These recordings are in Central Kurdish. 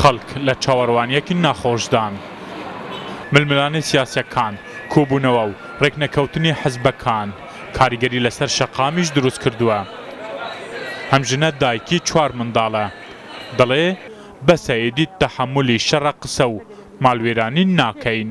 خەڵک لە چاوەروانیەکی ناخۆشدان، ململانێی سیاسیەکان کۆبوونەوە و رێکنەکەوتنی حزبەکان کاریگەری لەسەر شەقامیش دروستکردووە، ئەم ژنە دایکی چوار منداڵە دەڵێ، بەسە ئیدی تەحەمولی شەڕە قسە و ماڵوێرانی ناکەین.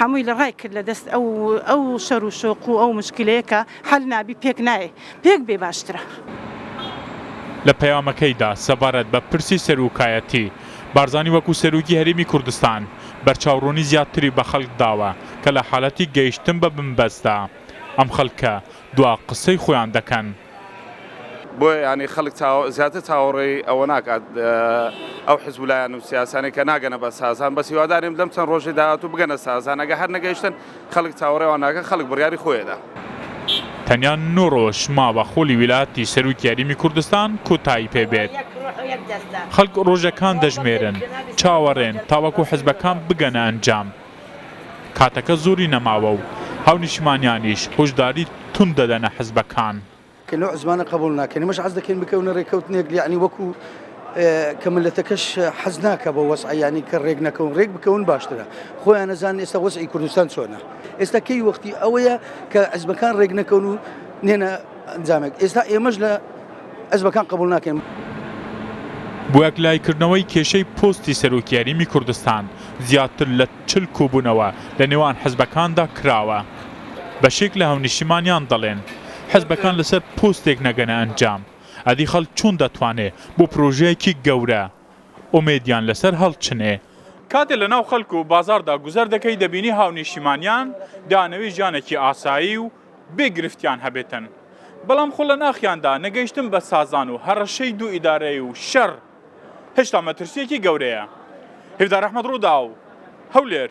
هەمووی لە ڕای کرد لە دەست ئەو ئەو شەر و شۆق و ئەو مشکلەیە کە حەل نابی پێک نایێ پێک بێ باشترە. لە پەیامەکەیدا سەبارەت بە پرسی سەرۆکایەتی، بارزانی وەکو سەرۆکی هەرێمی کوردستان بەرچاوڕوونی زیاتری بە خەڵک داوە کە لە حالەتی گەیشتن بە بنبەستدا ئەم خەڵکە دوا قسەی خۆیان دەکەن. بۆیە یانی خەلک زیاتر چاوەڕێی ئەوە ناکات ئەو حزب و لایەن و سیاسانەی کە ناگەنە بە سازان بەس هیوادارین لەم چەند ڕۆژی داهاتوو بگەنە سازان ئەگە هەر نەگەیشتن خەلک چاوەڕێوان ناکەن خەلک بڕیاری خۆیەدا. تەنیا نۆ ڕۆژ ماوە خۆلی ویلایەتی سەروکی یەریمی کوردستان کۆتایی پێ بێت. خەلک ڕۆژەکان دەژمێرن، چاوەڕێن تاوەکو حزبەکان بگەنە ئەنجام. کاتەکە زۆری نەماوە و هاونیشتمانیانیش هۆشداری توند دەدەنە حزبەکان. کە نوع زمانە قبوڵ ناکەن ئێمەش حەز دەکەین بکەونە رێککەوتنێک یەعنی وەکو کە ملەتەکەش حەز ناکە بە وەزعە یەعنی کە رێک نەکەون رێک بکەون باشترە خۆیان ئەزانن ئێستا وەزعی کوردستان چۆنە ئێستا کەی وەختی ئەوەیە کە حزبەکان رێک نەکەون و نێنە ئەنجامێک ئێستا ئێمەش لە حزبەکان قبوڵ ناکەین. بۆیەکلایکردنەوەی کێشەی پۆستی سەرۆکی هەریمی کوردستان زیاتر لە چل کۆبونەوە لە نێوان حزبەکاندا کراوە بەشێک لە هاونیشتیمانیان دەڵێن حزبەکان لەسەر پۆستێک نەگەنە ئەنجام ئەدی خەڵک چۆن دەتوانێ بۆ پرۆژەیەکی گەورە ئومێدیان لەسەر هەڵچنێ کاتێ لەناو خەلک و بازاردا گوزەر دەکەی دەبینی هاونیشتیمانیان دانەوی ژیانێکی ئاسایی و بێ گرفتیان هەبێتن، بەڵام خۆ لە ناخیاندا نەگەیشتن بە سازان و هەڕەشەی دوو ئیدارەی و شەڕ هێشتا مەترسییەکی گەورەیە. هیڤدار ئەحمەد ڕووداو، هەولێر.